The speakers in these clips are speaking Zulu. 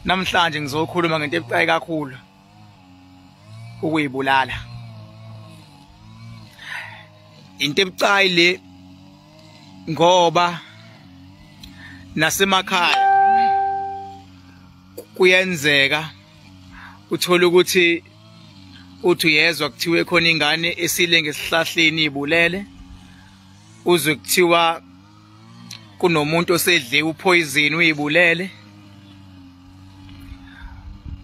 namhlanje ngizokhuluma ngento ebucayi kakhulu ukuyibulala into ebucayi le ngoba nasemakhaya kuyenzeka uthola ukuthi uthi uyezwa kuthiwe khona ingane esile ngesihlahleni ibulele uzwe kuthiwa kunomuntu osedle uphoyizini uyibulele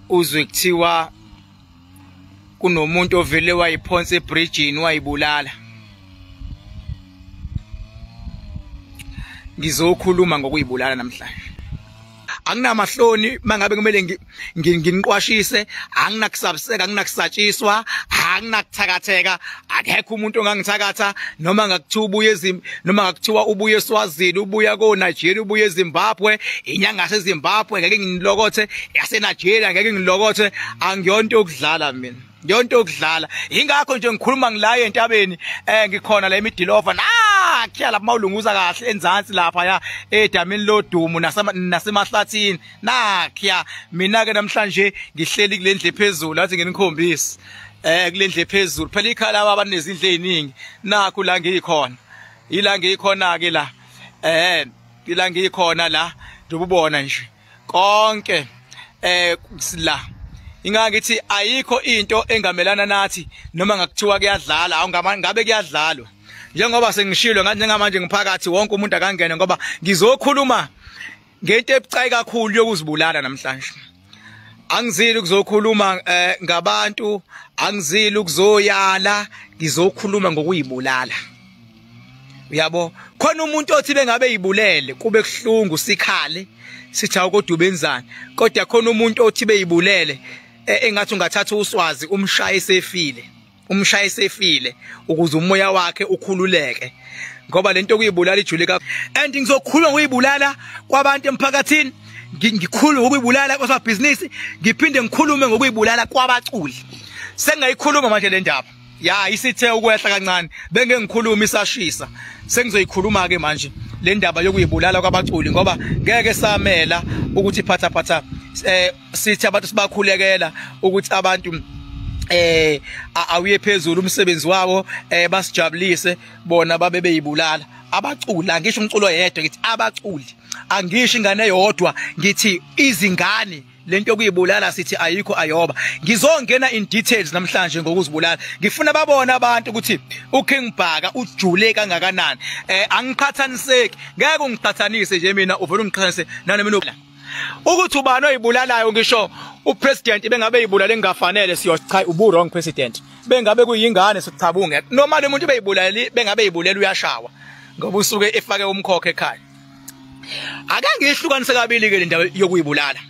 uzwe kuthiwa kunomuntu ovele wayiphonsa ebridgini wayibulala ngizokhuluma ngokuyibulala namhlanje anginamahloni mangabe kumele nginiqwashise anginakusabiseka anginakusatshiswa anginakuthakatheka akekho umuntu ongangithakatha noma ngakuthiwa ubuye ezim noma ngakuthiwa ubuye eSwazini ubuya ko Nigeria ubuye eZimbabwe inyanga yaseZimbabwe ngeke nginilokothe yaseNigeria ngeke ngilokothe angiyonto yokudlala mina yonto yokudlala yingakho nje ngikhuluma ngilaye entabeni eh ngikhona la emidilova nakhiya lapha mawulunguza kahle enzansi lapha ya edamini lodumo nasemahlathini nakhiya mina ke namhlanje ngihleli kulendle phezulu athi nginikhombisi eh kulendle phezulu phela ikhala baba nezindle eziningi nakho la ngikhona ila ngikhona ke la eh ila ngikhona la ndububona nje konke eh la ingangithi ayikho into engamelana nathi noma ngakuthiwa kuyadlala awungama ngabe kuyadlalwa njengoba sengishilo ngathi njengamanje ngiphakathi wonke umuntu akangene ngoba ngizokhuluma ngento ebucayi kakhulu yokuzibulala namhlanje angizili ukuzokhuluma eh, ngabantu angizili ukuzoyala ngizokhuluma ngokuyibulala uyabo khona umuntu othi bengabe yibulele kube kuhlungu sikhale sithi awukodwa ubenzani kodwa khona umuntu othi beyibulele e, engathi ungathatha uswazi umshaye sefile umshaye sefile ukuze umoya wakhe ukhululeke ngoba lento kuyibulala ijule ka and ngizokhuluma ngoyibulala kwabantu emphakathini ngikhulume ngokuyibulala kwasabhizinisi ngiphinde ngikhulume ngokuyibulala kwabaculi sengayikhuluma manje le ndaba ya isithe ukwehla kancane benge ngikhuluma isashisa sengizoyikhuluma ke manje le ndaba yokuyibulala kwabaculi ngoba ngeke samela ukuthi iphatha phatha eh sithi abantu sibakhulekela ukuthi abantu eh awuye phezulu umsebenzi wabo eh basijabulise bona babe beyibulala abaculi angisho umculo yedwa ngithi abaculi angisho ingane yodwa ngithi izingane lento yokuyibulala sithi ayikho ayoba ngizongena in details namhlanje ngokuzibulala ngifuna babone abantu ukuthi uKing Bhaka ujule kangakanani eh angiqhathaniseki ngeke ungiqhathanise nje mina uvela ungiqhathanise nani mina ukuthi ubani oyibulalayo ngisho upresident bengabe yibulala engafanele siyo cha ubu wrong president bengabe kuyingane sichabunge noma lomuntu beyibulali bengabe yibulala uyashawa ngoba usuke efake umkhokhe ekhaya ake ngihlukanise kabili ke le ndawo yokuyibulala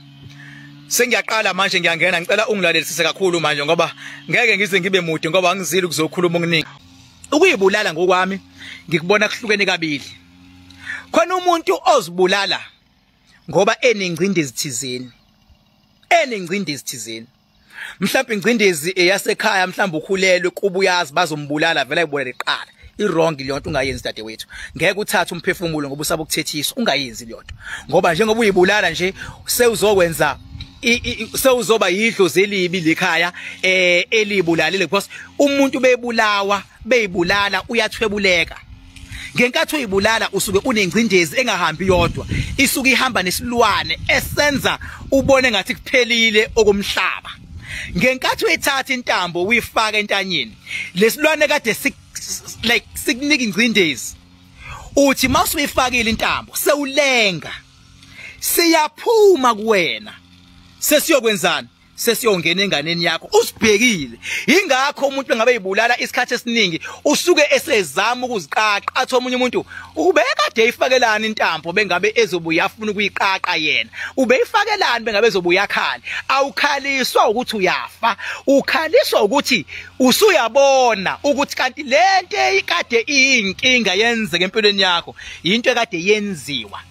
sengiyaqala manje ngiyangena ngicela ungilalelisise kakhulu manje ngoba ngeke ngize ngibe mude ngoba angizili ukuzokhuluma okuningi ukuyibulala ngokwami ngikubona kuhlukene kabili khona umuntu ozibulala ngoba enengcindezi thizeni enengcindezi thizeni mhlawumbe ingcindezi eyasekhaya mhlawumbe ukhulelwe kuba uyazi bazombulala vele ayibona liqala iwrong leyo nto ungayenzi dadewethu ngeke uthathe umphefumulo ngoba usaba ukuthethiswa ungayenzi leyo nto ngoba njengoba uyibulala nje sewuzokwenza sewuzoba yidlozi elibi lekhaya eh elibulalile because umuntu bebulawa beyibulala uyathwebuleka ngenkathi uyibulala usuke unengcindezi engahambi yodwa isuke ihamba nesilwane esenza ubone ngathi kuphelile okumhlaba ngenkathi uyithatha intambo uyifaka entanyeni lesilwane kade sik like sikunika ingcindezi uthi masuyifakile intambo sewulenga siyaphuma kuwena sesiyokwenzani sesiyongena enganeni yakho usibhekile ingakho umuntu engabe yibulala isikhathi esiningi usuke esezama ukuziqaqa athi omunye umuntu ubekade eyifakelana intambo bengabe ezobuya afuna ukuyiqaqa yena ubeyifakelani bengabe ezobuya khali awukhaliswa ukuthi uyafa ukhaliswa ukuthi usuyabona ukuthi kanti lento ekade iyinkinga yenzeke empilweni yakho into ekade yenziwa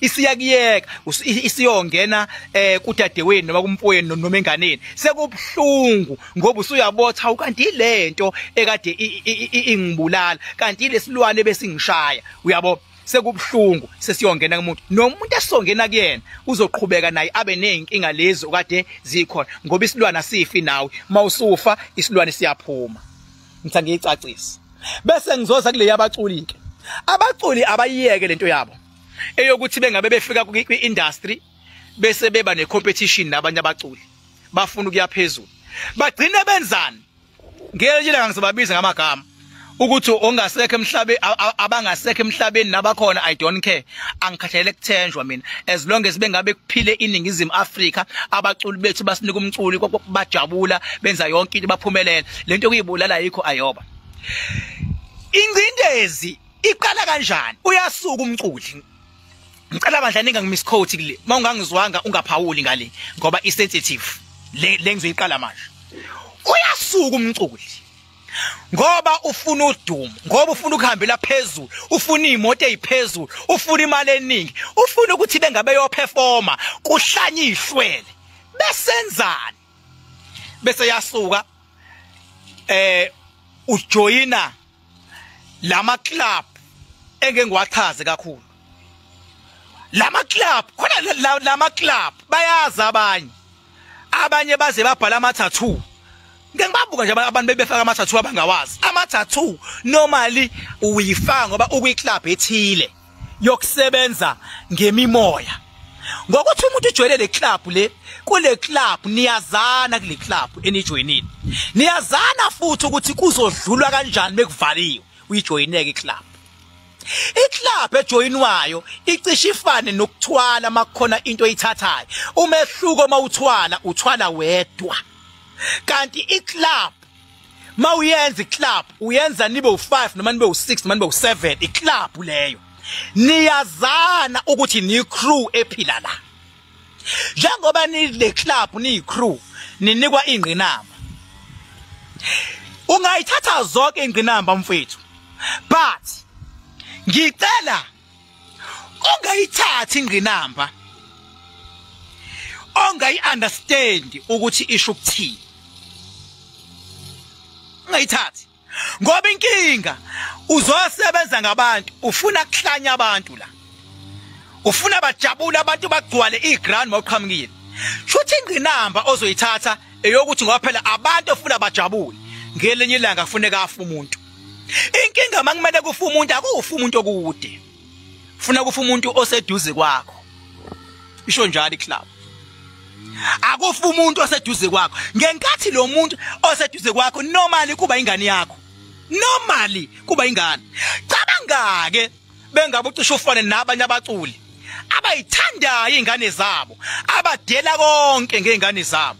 isiyakuyeka isiyongena eh kudadewenu noma kumpoyeni noma enganeni sekubhlungu ngoba usuyabotha ukanti ilento ekade ingibulala kanti lesilwane besingishaya uyabo sekubhlungu sesiyongena kumuntu nomuntu esongena kuyena uzoqhubeka naye abe nezinkinga lezi okade zikhona ngoba isilwane asifi nawe mawusufa isilwane siyaphuma ngitha ngiyicacisa bese ngizoza kuleya baculi ke abaculi abayiyeke lento yabo eyokuthi bengabe befika kwi-industry bese beba ne-competition nabanye abaculi bafuna ukuya phezulu bagcine benzani ngelinye ilanga ngizobabiza ngamagama ukuthi ongasekho emhlabeni abangasekho emhlabeni nabakhona i don't care angikhathalele kuthenjwa mina as long as bengabe kuphile iningizimu Africa abaculi bethu basinika umculi bajabula benza yonke into baphumelela lento kuyibulala yikho ayoba ingcindezi iqala kanjani uyasuka umculi ngicela bandla ninga ngimiss code kule mawungangizwanga ungaphawuli ngale ngoba i sensitive le lengizoyiqala manje uyasuka umculi ngoba ufuna udumo ngoba ufuna ukuhambela phezulu ufuna imoto eziphezulu ufuna imali eningi ufuna ukuthi bengabe yo performer kuhlanye ihlwele besenzani bese yasuka eh ujoyina lama club engeke ngiwachaze kakhulu lama club khona lama club bayazi abanye abanye baze babhala ama tattoo ngeke ngibabuka nje abantu bebefaka ama tattoo abangawazi ama tattoo normally uyifaka ngoba ukwi club ethile yokusebenza ngemimoya ngokuthi umuntu ujwayele le club le kule club niyazana kule club enijoyinile niyazana futhi ukuthi kuzodlulwa kanjani bekuvaliwe uyijoyineke iclub iclub ejoyinwayo icishe ifane nokuthwala makukhona into oyithathayo umehluko uma uthwala uthwala wedwa kanti iclub ma uyenza iclub uyenza nibe u5 noma nibe u6 noma nibe u7 iclub leyo niyazana ukuthi ni crew ephila la njengoba ni le club ni crew ninikwa ingqinamba ungayithatha zonke ingqinamba mfethu but ngicela ongayithathi ingqinamba ongayi understand ukuthi isho ukuthini ungayithathi ngoba inkinga uzosebenza ngabantu ufuna kuhlanya abantu la ufuna bajabule abantu bagcwale iground mawuqhamukile shuthi ingqinamba ozoyithatha eyokuthi ngoba phela abantu ofuna bajabule ngelinye ilanga kufuneka afa umuntu inkinga makumele kufa umuntu akufa umuntu okude funa kufa umuntu oseduze kwakho isho njalo iclub akufa umuntu oseduze kwakho ngenkathi lo muntu oseduze kwakho normally kuba ingane yakho normally kuba ingane cabanga ke bengabe ucisha ufane nabanye abaculi abayithandayo ingane zabo abadela konke ngeingane zabo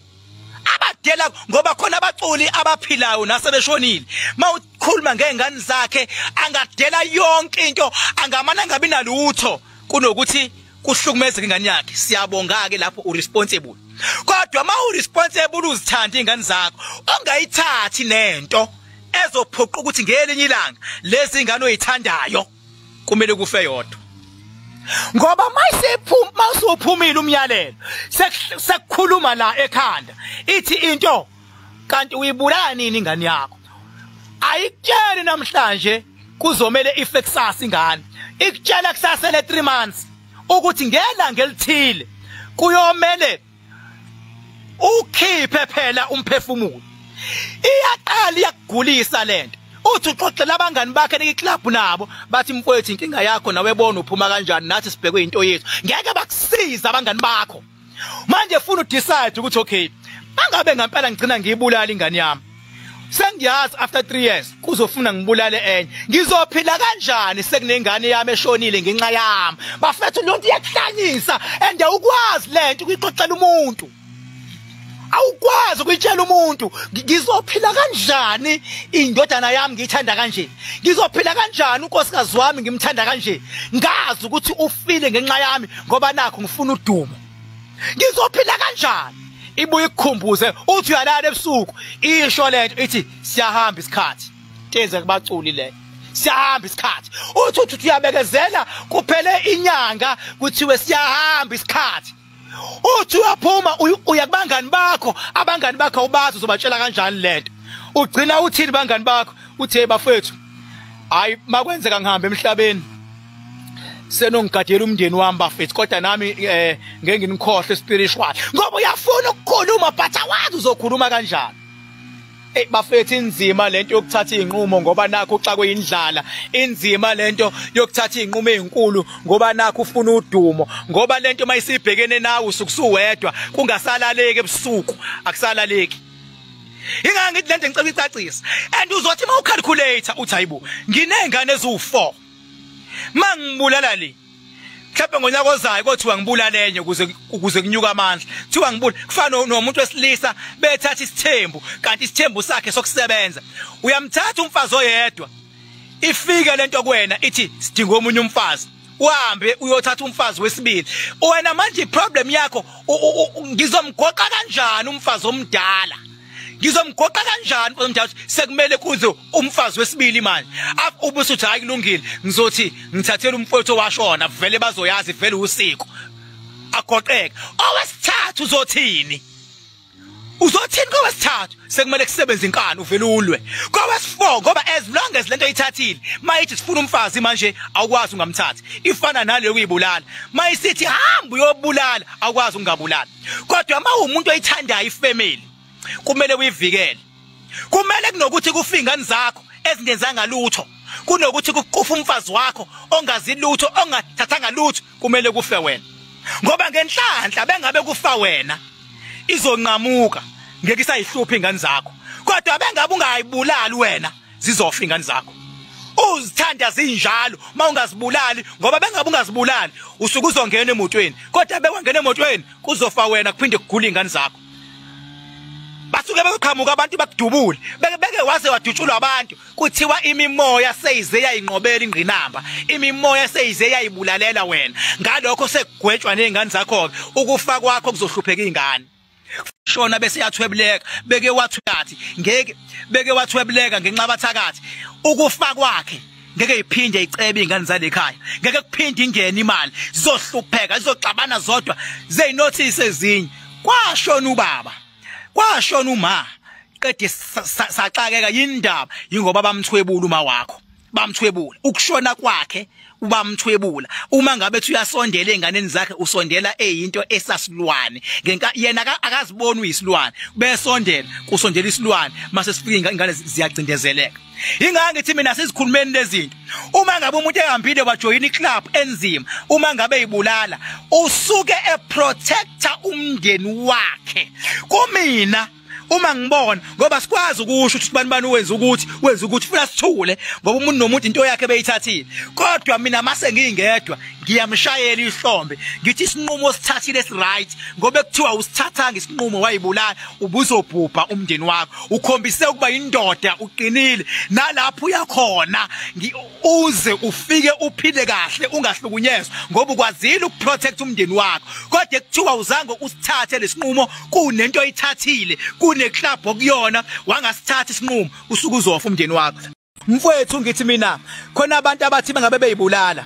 abadela ngoba khona abaculi abaphilayo nasebeshonile mawukhuluma ngezingane zakhe angadela yonke into angamana ngabi nalutho kunokuthi kuhlukumezeka ingane yakhe siyabonga ke lapho uresponsible kodwa ma uresponsible uzithanda ingane zakho ongayithathi nento ezophoqa ukuthi ngelinye ilanga lezi ngane oyithandayo kumele kufe yodwa ngoba mayisephuma mawusuphumile umyalelo sekukhuluma la ekhanda ithi into kanti uyibulala nini ingane yakho ayikutsheli namhlanje kuzomele ife kusasa ingane ikutshela kusasa le 3 months ukuthi ngelanga elithile kuyomele ukhiphe phela umphefumulo iyaqala iyakugulisa lento uthi uxoxela abangani bakhe nekiclub nabo bathi mfowethu inkinga yakho nawe bona uphuma kanjani nathi sibhekwe into yethu ngeke bakusiza abangani bakho manje funa udecide ukuthi okay angabe ngempela ngigcina ngiyibulala ingane yami sengiyazi after 3 years kuzofuna ngibulale enye ngizophila kanjani sekunengane yami eshonile ngenxa yami bafethu lonto iyakuhlanyisa and awukwazi lento ukuyixoxela umuntu awukwazi ukuyitshela umuntu ngizophila kanjani indodana yami ngiyithanda kanje ngizophila kanjani unkosikazi wami ngimthanda kanje ngazi ukuthi ufile ngenxa yami ngoba nakho ngifuna udumo ngizophila kanjani ibuye ikukhumbuze uthi uyalala ebusuku isho lento ithi siyahamba isikhathi teze kubaculi le siyahamba isikhathi uthi uthi uyabekezela kuphele inyanga kuthiwe siyahamba isikhathi uthi uyaphuma uya kubangani bakho abangani bakho ubazi uzobatshela kanjani lento ugcina uthini bangani bakho uthi hey bafethu hayi makwenzeka ngihambe emhlabeni senongigadela umndeni wami bafethu kodwa nami eh ngeke nginikhohle spiritual ngoba uyafuna ukukhuluma but awazi uzokhuluma kanjani Hey bafethu inzima lento yokuthatha izinqumo ngoba nakho uxakwe indlala inzima lento yokuthatha izinqumo ezinkulu ngoba nakho ufuna udumo ngoba lento mayisibhekene nawe usukusuwedwa kungasalaleki ebusuku akusalaleki Ingangithi lento ngicela icacisa and uzothi mawucalculator uthi hayibo nginezingane eziwu4 mangibulala le mhlawumbe ngonyaka ozayo kothiwa ngibulale enye ukuze ukuze kunyuka amandla kuthiwa ngibula kufana nomuntu wesilisa bethatha isithembu kanti isithembu sakhe sokusebenza uyamthatha umfazi oyedwa ifike lento kuwena ithi sidinga omunye umfazi uhambe uyothatha umfazi wesibili wena manje iproblem yakho ngizomgoqa kanjani umfazi omdala ngizomgoqa kanjani umfazi omdala sekumele kuze umfazi wesibili manje ubese uthi hayi kulungile ngizothi ngithathela umfowethu owashona vele bazoyazi vele usiko agoqeke owesithathu uzothini uzothini kowesithathu sekumele kusebenze inkani uvele ulwe kowesifour ngoba as long as lento ithathile mayithi sifuna umfazi manje awukwazi ungamthathi ifana naleyo kuyibulala mayisithi hamba uyobulala awukwazi ungabulala kodwa uma umuntu oyithandayo ifamily kumele uyivikele kumele kunokuthi kufingani zakho ezingenzanga lutho kunokuthi kuqufa umfazi wakho ongazi lutho ongathathanga lutho kumele kufe wena ngoba ngenhlanhla bengabe kufa wena izonqamuka ngeke isayihluphi ingane zakho kodwa bengabe ungayibulali wena zizofa ingane zakho uzithanda zinjalo mawungazibulali ngoba bengabe ungazibulali usuke uzongena emotweni kodwa bewangena emotweni kuzofa wena kuphinde kugula ingane zakho basuke beyoqhamuka abantu bakudubule beke beke waze wadutshulwa abantu kuthiwa imimoya seyize yayinqobela ingqinamba imimoya seyize yayibulalela wena ngalokho sekugwetshwa nezingane zakho ke ukufa kwakho kuzohlupheka izingane shona bese yathwebuleka beke wathi ngeke beke wathwebuleka ngenxa bathakathi ukufa kwakhe ngeke iphinde icebe izingane zalekhaya ngeke kuphinde ingene imali zizohlupheka zizoxabana zodwa zeyinothise ezinye kwashona ubaba kwashona uma qede saxakeka yindaba yingoba bamthwebula uma wakho bamthwebula ukushona kwakhe ubamthwebula uma ngabe ethi uyasondela enganeni zakhe usondela eyinto esasilwane ngenka yena akaziboni uyisilwane besondela kusondela isilwane mase sifika ingane ziyacindezeleka Ingakho ngithi mina sizikhulumeni lezinto. Uma ngabe umuntu ehambile wajoyina iclub enzima, uma ngabe ibulala, usuke eprotector umndeni wakhe. Kumina uma ngibona ngoba sikwazi ukusho ukuthi bani bani wenza ukuthi wenza ukuthi funa sithule ngoba umuntu nomuntu into yakhe beyithathile kodwa mina mase ngingedwa ngiyamshayela ihlombe ngithi isinqumo sithathile esiright ngoba kuthiwa usithathanga isinqumo wayibulala ubuzobhubha umndeni wakho ukhombise ukuba indoda uqinile nalapho uyakhona uze ufike uphile kahle ungahlukunyezwa ngoba ukwazile ukuprotect umndeni wakho kodwa kuthiwa uzange usithathe lesinqumo kunento oyithathile kuneclub okuyona wangasithatha isinqumo usuke uzofa umndeni wakho mfowethu ngithi mina khona abantu abathi bengabe beyibulala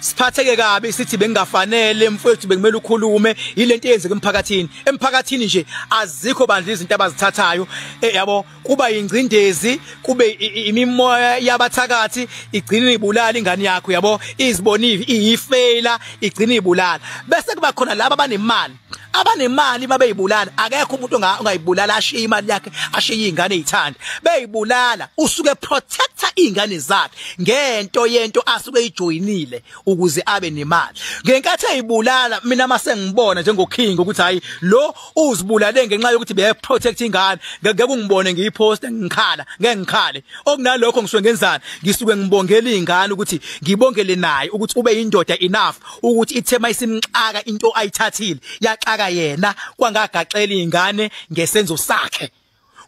siphatheke kabi sithi bengafanele mfowethu bekumele ukhulume yilento eyenzeka emphakathini emphakathini nje azikho bandla izinto abazithathayo eh, yabo kuba ingcindezi kube imimoya yabathakathi igcina ibulala ingane yakho yabo izibonivi iyifela igcina ibulala bese kuba khona laba abanemali abanemali babeyibulala akekho umuntu ongayibulala ashiye imali yakhe ashiye izingane ezithanda beyibulala usuke protector izingane zakhe ngento yento asuke ejoyinile ukuze abe nemali ngenkathi eyibulala mina mase ngibona njengoking ukuthi hayi lo uzibulale ngenxa yokuthi be protect ingane ngeke kungibone ngiyipost ngikhala ngeke ngikhale okunalokho ngisuke ngenzani ngisuke ngibongela izingane ukuthi ngibongele naye ukuthi ube indoda enough ukuthi ithema isimxaka into ayithathile yaxaka yena kwangagaxela ingane ngesenzo sakhe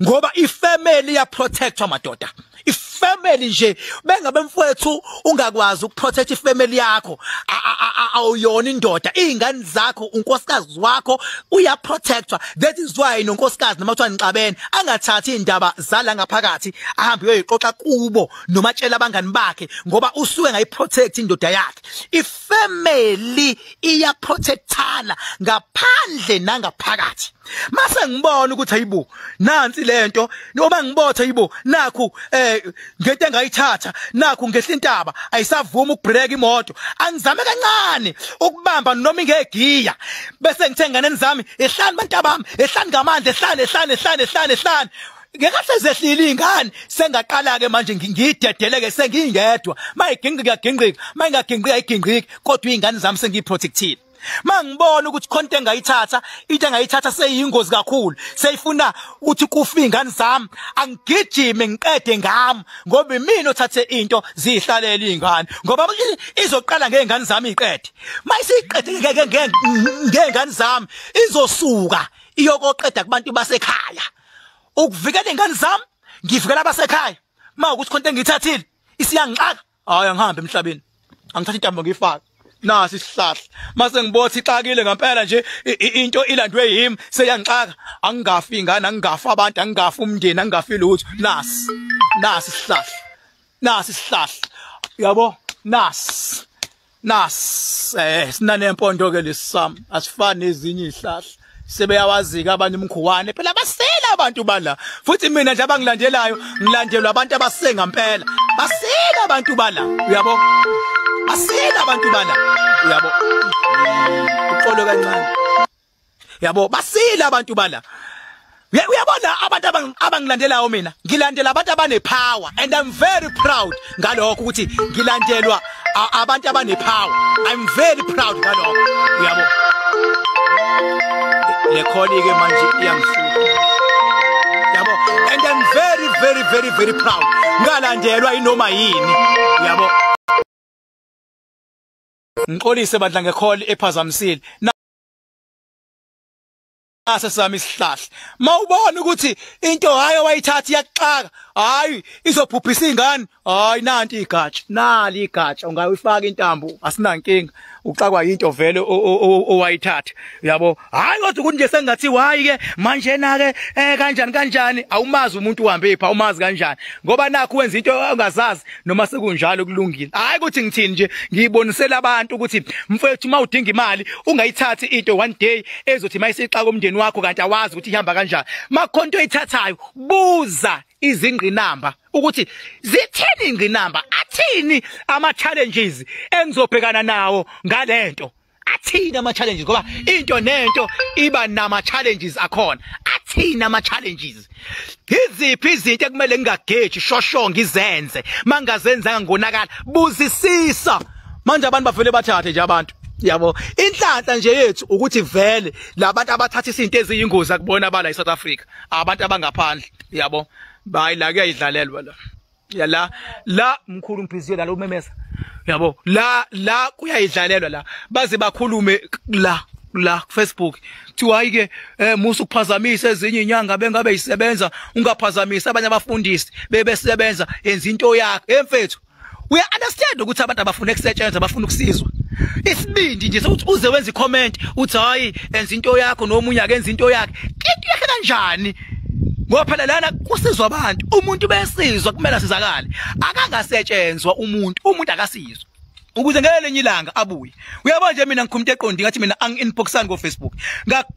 ngoba ifamily ya protectwa madoda ifamily nje bengabe mfowethu ungakwazi ukuprotect ifamily yakho awuyona indoda izingane zakho unkosikazi wakho uya protectwa that is why nonkosikazi noma kuthiwa nixabene angathathi indaba zala ngaphakathi ahambe uyoyixoxa kubo noma tshela abangani bakhe ngoba usuke ngayiprotect indoda yakhe ifamily iyaprotectana ngaphandle nangaphakathi mase ngibona ukuthi ayibo nansi lento noma ngibotha ayibo nakhu eh ngento engayithatha nakhu ngehla intaba ayisavuma ukubreak imoto angizame kancane ukubamba noma ingegiya bese ngithe nganeni zami ehlani bantabami ehlani ngamandla ehlani ehlani ehlani ehlani ehlani ngekahle zehlile ingane sengaqala ke manje ngidedeleke sengingedwa mayigingqika gingqika mayingagingqika igingqika kodwa izingane zami sengiprotectile mangibona ukuthi konke engayithatha into engayithatha seyingozi kakhulu seyifuna ukuthi kufe izingane zami angigijime ngiqede ngami ngoba imina othathe into zihlalele izingane ngoba izoqala ngeingane zami iqede mayisiqede ngeke ngengane zami izosuka iyokoqeda kubantu basekhaya ukuvikela ingane zami ngivikela abasekhaya uma ukuthi khonto engithathile isiyangixaka hayi angihambe emhlabeni angithatha intambo ngiyifaka nasi isihlahla mase ngibothi ixakile ngempela nje into ilandwe yimi seyangixaka angingafi ingane angingafi abantu angingafi umndeni angingafi lutho nasi nasi isihlahla nasi isihlahla yabo nasi nasi eh sinane impondo ke lesam asifani ezinye izihlahla sebeyawazika abanye umkhuwane phela basela abantu bala futhi mina nje abangilandelayo ngilandelwa abantu abasenga impela basela abantu bala uyabo basela abantu bala uyabo uxolo kancane yabo basile abantu bala uyabona abantu abangilandelayo mina ngilandela abantu abanepower and i'm very proud ngalokho ukuthi ngilandelwa abantu abanepower i'm very proud ngalokho uyabo le kholi ke manje iyangihlupha yabo and i'm very very very very proud ngalandelwa inoma yini yabo ngixolise bandla ngekholi ephazamisile ase sami isihlahla mawubona ukuthi into hayo wayithatha iyaxaka hayi izophuphisa ingane hayi nanti igatsha nali igatsha ungayifaka intambo asinankinga uxakwa into vele owayithatha yabo hayi kodwa ukuthi nje sengathi wayi ke manje na ke eh kanjani kanjani awumazi umuntu uhambe pha umazi kanjani ngoba nakho wenza into ongazazi noma sekunjalo kulungile hayi ukuthi ngithini nje ngiyibonisela abantu ukuthi mfethu uma udinga imali ungayithathi into one day ezothi mayisixaka komndeni wakho kanti awazi ukuthi ihamba kanjani makhonto oyithathayo buza izingqinamba ukuthi zithini ingqinamba athini ama challenges engizobhekana nawo ngalento athini ama challenges ngoba into nento iba nama challenges akhona athini ama challenges iziphi izinto ekumele ngingageji shosho ngizenze mangazenzanga ngonakala buzisisa manje abantu bavele bathathe nje abantu yabo inhlanhla nje yethu ukuthi vele labantu abathatha izinto eziyingozi akubona abala eSouth Africa abantu abangaphandle yabo bayi la kuyayidlalelwa la ya la la mkhulu ngibhiziwe la umemeza yabo la la kuyayidlalelwa la baze bakhulume la la Facebook kuthiwa hayi ke eh musa ukuphazamisa ezinye inyanga bengabe isebenza ungaphazamisa abanye abafundisi bebesebenza yenza into yakhe emfethu uya understand ukuthi abantu abafuna ukusetshenzwa abafuna ukusizwa isibindi nje sokuthi uze wenza icomment uthi hayi enza into yakho nomunye akenza into yakhe into yakhe kanjani ngoba phela lana kusizwa abantu umuntu besizwa kumele asizakale akangasetshenzwa umuntu umuntu akasizwa ukuze ngelenye ilanga abuye uyabona nje mina ngikhumute eqondi ngathi mina ang inboxan ko Facebook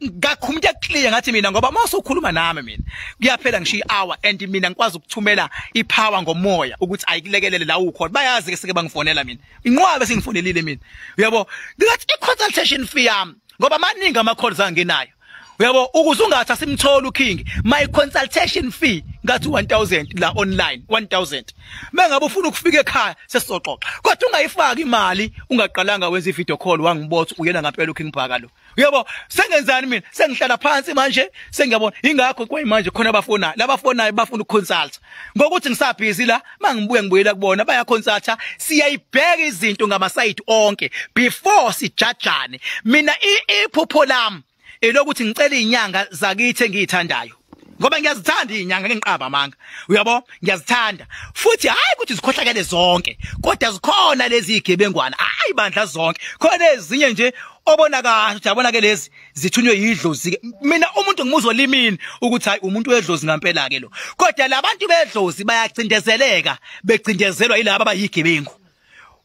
ngakhumute clear ngathi mina ngoba mase ukhuluma nami mina kuyaphela ngishiya hour and mina ngikwazi ukuthumela ipower ngomoya ukuthi ayikulekelele la ukhona bayazi ke sike bangifonela mina inqwabe singifonelile mina uyabo ngathi i consultation fee yami ngoba maningi ama calls angenayo uyabo ukuze ungathi asimtholi uking my consultation fee ngathi 1000 la online 1000 mengabe ufuna ukufika ekhaya sesizoxoxa kodwa ungayifaki imali ungaqalanga wenza ivideo call wangibotha uyena ngampela uking bhaka lo uyabo sengenzani mina sengihlala phansi manje sengiyabona ingakho kwayimanje khona abafona labafonayo bafuna ukuconsult ngokuthi ngisabhizi la mangibuye ngibuyela kubona bayakhonsatha siyayibheka izinto ngamasayidi onke before sijajane mina iphupho lami elokuthi ngicela izinyanga zakithi engiyithandayo ngoba ngiyazithanda izinyanga ngengiqaba amanga uyabo ngiyazithanda futhi hayi ukuthi zikhohlakele zonke kodwa zikhona lezi igebengwana hayi bandla zonke khona ezinye nje obona kahle ukuthi yabona ke lezi zithunywe yidlozi ke mina umuntu ngimuzwa limini ukuthi hayi umuntu wedlozi ngampela ke lo kodwa labantu bedlozi bayacindezeleka becindezelwa yilabo abayigebengu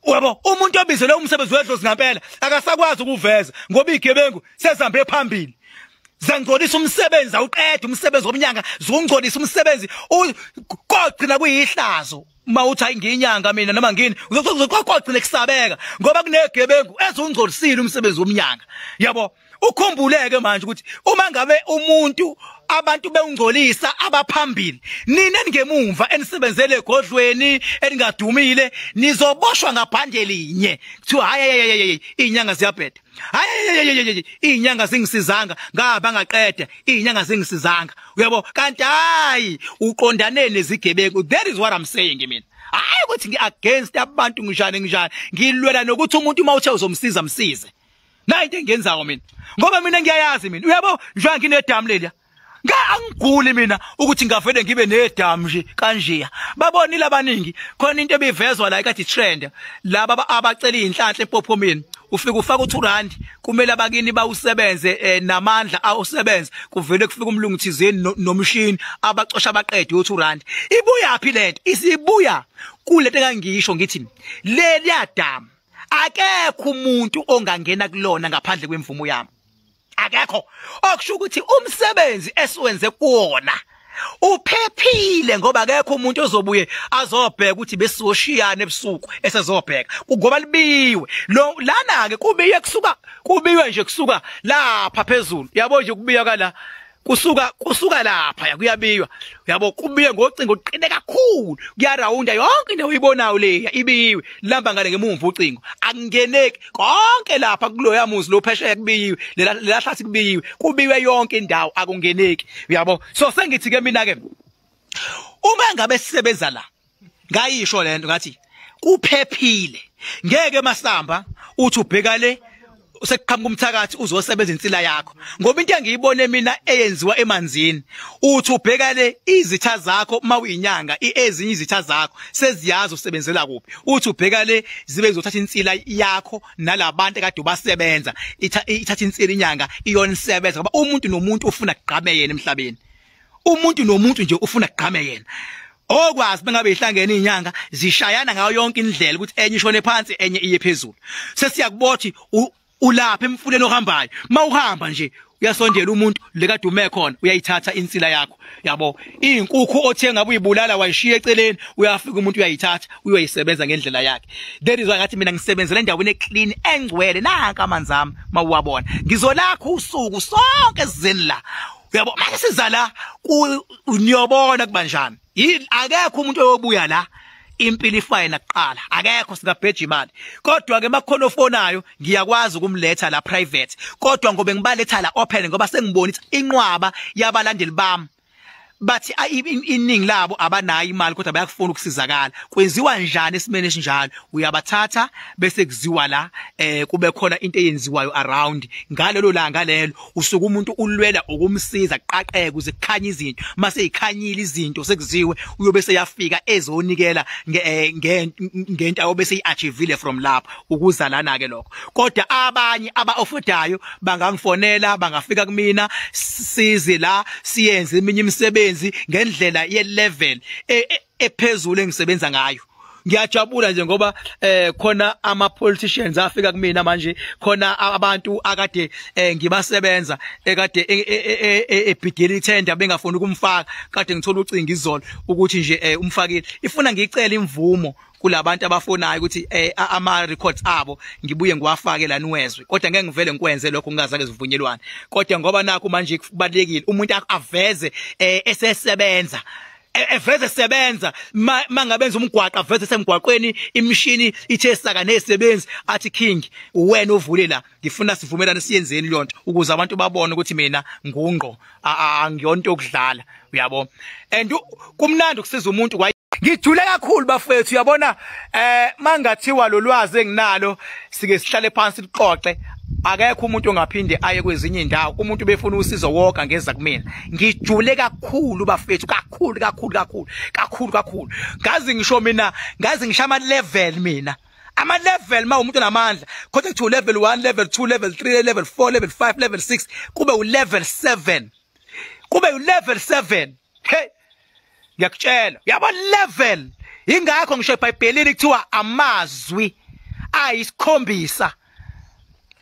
Uyabo umuntu obizelwe umsebenzi wedlozi ngampela akasakwazi ukuveza ngoba igebengu sezihambe phambili zangcolisa umsebenzi awuqeda umsebenzi womnyanga zungcolisa umsebenzi kogcina kuyihlazo uma uthi hayi ngiyinyanga mina noma ngini uzoqoqina kusabeka ngoba kunegebengu ezungcolisile umsebenzi womnyanga yabo ukhumbuleke manje ukuthi uma ngabe umuntu abantu bewungcolisa abaphambili nina ningemumva enisebenzele egodlweni eningadumile nizoboshwa ngabhande linye kuthiwa hayi inyanga ziyabheda hayi izinyanga zingisizanga ngaba ngaqeda izinyanga zingisizanga uyabo kanti hayi uqondane nezigebengu that is what i'm saying mina hayi ukuthi ngi against abantu ngishane ngishane ngilwela nokuthi umuntu uma uthe uzomsiza msize nayinto engenzayo mina ngoba mina ngiyayazi mina uyabo njengoba nginedamu leliya Ngeke angiguli mina ukuthi ngavele ngibe nedamu nje kanjeya. Babonile abaningi khona into ebivezwa la ikathi trend. Laba abacela inhlanhla empophomeni. Ufika ufaka u2 rand kumele abakini bawusebenze eh, namandla awusebenze kuvele kufika umlungu thizeni nomshini abacosha abaqede u2 rand. Ibuya phi lento? Isibuya kulento kangisho ngithi leli yadamu akekho umuntu ongangena kulona ngaphandle kwemvumo yami. akekho okusho ukuthi umsebenzi esiwenze kuwona uphephile ngoba akekho umuntu ozobuye azobheka ukuthi besizoshiyana ebusuku esezobheka ngoba libiwe lo lana ke kubiye kusuka kubiwe nje kusuka lapha phezulu yabo nje kubiya kala kusuka kusuka lapha yakuyabiywa yabo kubiye ngocingo uqine kakhulu kuyarawunda yonke into oyibonayo leya ibiyiwe lamba ngale ngemumva ucingo akungeneki konke lapha kuloya muzi lo phesheya kubiyiwe lela hlathi kubiyiwe kubiwe yonke indawo akungeneki uyabo so sengithi ke mina ke uma ngabe sisebenza la ngayisho lento ngathi kuphephile ngeke masamba uthi ubheka le sekuqhamuka umthakathi uzosebenza insila yakho ngoba into engiyibone mina eyenziwa emanzini uthi ubheka le izitha zakho uma uyinyanga ezinye izitha zakho seziyazi usebenzela kuphi uthi ubheka le zibe zizothatha insila yakho nalabantu ekade ubasebenza ithatha insila inyanga iyona isebenza ngoba umuntu nomuntu ufuna kugqame yena emhlabeni umuntu nomuntu nje ufuna kugqame yena okwazi bengabe ihlangene inyanga zishayana ngayo yonke indlela ukuthi enye ishone phansi enye iye phezulu sesiyakubothi ulapha emfuleni ohambayo mawuhamba nje uyasondela umuntu lekade ume khona uyayithatha insila yakho yabo izinkukhu othenga uyibulala wayishiya eceleni uyafika umuntu uyayithatha uyoyisebenza ngendlela yakhe that is why ngathi mina ngisebenzela endaweni eclean engcwele nanka amanzi ami mawuwabona ngizolakha usuku sonke sizeni la uyabo manje siza la niyobona kubanjani yini akekho umuntu oyobuya la impilo ifaye nakuqala akekho singabheja imali kodwa ke makhono ofonayo ngiyakwazi ukumletha la private kodwa ngobe ngibaletha la open ngoba sengibona ukuthi inqwaba yabalandeli bami bathi iningi labo abanayo imali kodwa bayakufuna ukusizakala kwenziwa njani esimene esinjalo uyabathatha bese kuziwa la eh kube khona into eyenziwayo around ngalelo langa lelo usuke umuntu ulwela ukumsiza qaqeke kuze kukhanye izinto mase ikhanyile izinto sekuziwe uyobe seyafika ezonikela eh, ngento ayobe seyiachievile from lapho ukuzalana ke lokho kodwa abanye abaofodayo bangangifonela bangafika kumina size la siyenze iminye imisebenzi ngendlela ye level e, e, ephezulu engisebenza ngayo ngiyajabula nje ngoba eh khona ama politicians afika kumina manje khona abantu akade eh, ngibasebenza ekade e, e, e, ebhidela ithenda bengafuni ukumfaka kade ngithola ucinga izolo ukuthi nje eh, umfakile ifuna ngicela imvumo kulabantu abafonayo ukuthi eh, ama records abo ngibuye ngiwafake la niwezwe kodwa ngeke ngivele ngikwenze lokho ngingazake zivunyelwane kodwa ngoba nakho manje kubalekile umuntu aveze eh, esesebenza E, eveze sebenza mangabenza umgwaqo aveze semgwaqweni imishini ithe saka nezisebenzi athi king wena ovule la ngifuna sivumelane siyenzeni leyonto ukuze abantu babone ukuthi mina ngungqo angiyonto yokudlala uyabo and kumnandi ukusiza umuntu ngijule kakhulu bafethu uyabona eh mangathiwa lolwazi enginalo sike sihlale phansi lixoxe akekho umuntu ongaphinde aye kwezinye indawo umuntu befuna usizo woka ngeza kumina ngijule kakhulu bafethu kakhulu kakhulu kakhulu kakhulu kakhulu ngazi ngisho mina ngazi ngisho ama level mina ama level ma umuntu namandla kodwa kuthiwa level 1 level 2 level 3 level 4 level 5 level 6 kube u level 7 kube u level 7 hey ngiyakutshela yabo level ingakho ngisho eBhayibhelini kuthiwa amazwi ayisikhombisa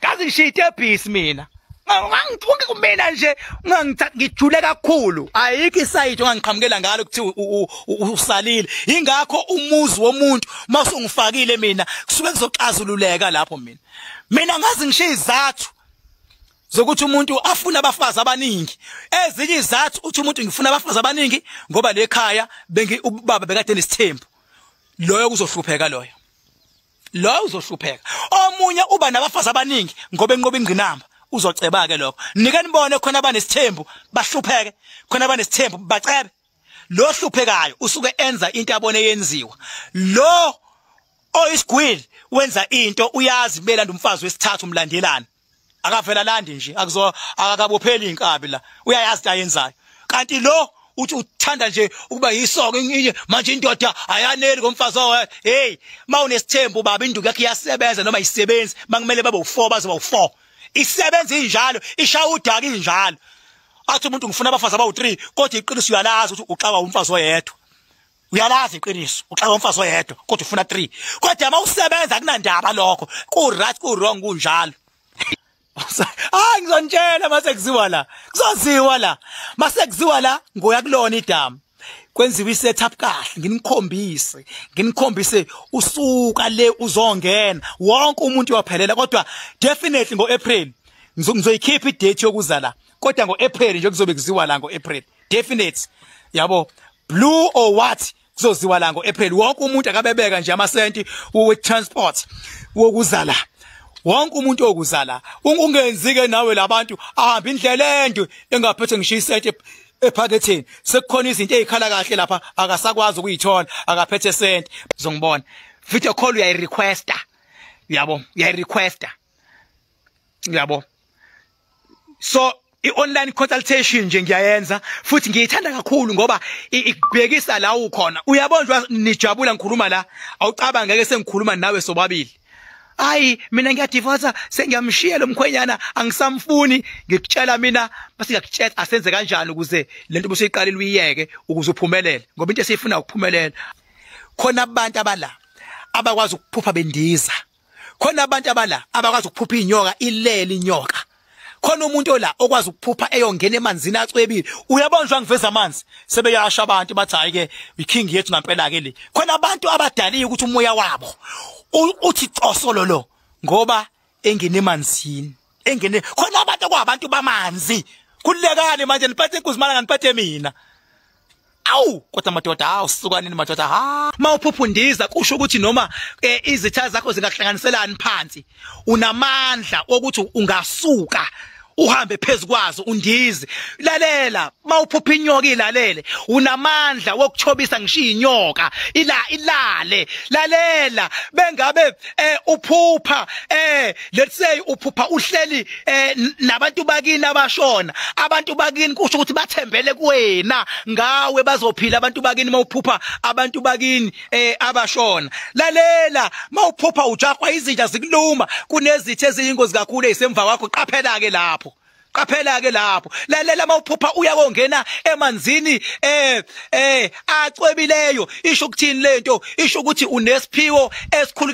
kazi ngishiya itebhisi mina ngangithuke kumina nje ngangijule kakhulu ayikho isayidi ongangiqhamukela ngalo kuthiwa usalile ingakho umuzi womuntu masungifakile mina kusuke kuzoxazululeka lapho mina mina ngazi ngishiya izathu zokuthi umuntu afuna abafazi abaningi ezinye izathu uthi umuntu ngifuna abafazi abaningi ngoba lekhaya bengi ubaba bekade nesithembu loyo kuzohlupheka loyo loyo uzohlupheka omunye uba nabafazi abaningi ngoba enqoba ingqinamba uzoceba ke lokho nike nibone khona abanesithembu bahlupheke khona abanesithembu bacebe lo hluphekayo usuke enza into abone yenziwa lo oyisigwili wenza into uyazi belanda umfazi wesithathu umlandelana akavela landi nje akuzo akabopheli inkabi la uyayazi into ayenzayo kanti lo uthi uthanda nje ukuba yisoko inye manje indoda ayaneli ngomfazi wayo hey mawunesithembu baba induku yakhe iyasebenza noma isebenzi makumele babe u4 bazoba u4 isebenza injalo ishaya udaka injalo athi umuntu ngifuna abafazi abawu3 kodwa iqiniso uyalazi ukuthi uxawa umfazi oyedwa uyalazi iqiniso uxaka umfazi oyedwa kodwa ufuna 3 kodwa uma usebenza kunandaba lokho ku right ku wrong kunjalo ah ngizonitshela mase kuziwa la kuzoziwa la mase kuziwa la ngoya kulona idamu kwenziwe isetup kahle nginikhombise nginikhombise usuka le uzongena wonke umuntu waphelela kodwa definitely ngo April ngizoyikhipha idate yokuza la kodwa ngo April nje kuzobe kuziwa la ngo April definite yabo blue or what kuzoziwa la ngoApril wonke umuntu akabebeka nje amasenti we transport wokuzala wonke umuntu okuzala ungenzi ke nawe labantu ahamba indlela ende engaphethe ngisho isenti ephaketheni sekukhona izinto ezikhala kahle lapha akasakwazi ukuyithola akaphethe senti uzongibona video call uyayi requesta yabo uyayi requesta yabo so i-online consultation nje ngiyayenza futhi ngiyithanda kakhulu ngoba ikubhekisa la ukhona uyabonjwa nijabula ngikhuluma la awucaba ngeke sengikhuluma nawe sobabili hayi mina ngiyadivosa sengiyamshiya lo mkhwenyana angisamfuni ngikutshela mina basingakutshela asenze kanjani ukuze le nto busiyiqalile uyiyeke ukuze uphumelele ngoba into esiyifuna ukuphumelela khona abantu abala abakwazi ukuphupha bendiza khona abantu abala abakwazi ukuphupha inyoka ilele inyoka khona umuntu ola okwazi ukuphupha eyongena emanzini acwebile uyabonjwa ngiveza amanzi sebeyasha abantu bathi hayi ke iking yethu ngampela ke le khona abantu abadaliye ukuthi umoya wabo uthi cosolo lo ngoba engene emanzini engene khona abantu kwabantu bamanzi kulekani manje niphathe inkuzimana nganiphathe mina awu kodwa madoda hawu sukanini madoda ha mawuphuphundiza kusho ukuthi noma eh, izitha zakho zingahlanganiselani phansi unamandla ukuthi ungasuka uhambe phezukwazo undize lalela mawuphupha inyoka ilalele unamandla wokuchobisa ngishiya inyoka ila ilale lalela bengabe eh uphupha eh let's say uphupha uhleli eh nabantu bakini abashona abantu bakini kusho ukuthi bathembele kuwena ngawe bazophila abantu bakini mawuphupha abantu bakini eh abashona lalela mawuphupha ujahwa izinja zikuluma kunezithe eziyingozi kakhulu ezisemva kwakho qaphela ke lapho qaphela ke lapho lalela mawuphupha uya kongena emanzini eh eh acwebileyo isho ukuthini lento isho ukuthi unesiphiwo esikhulu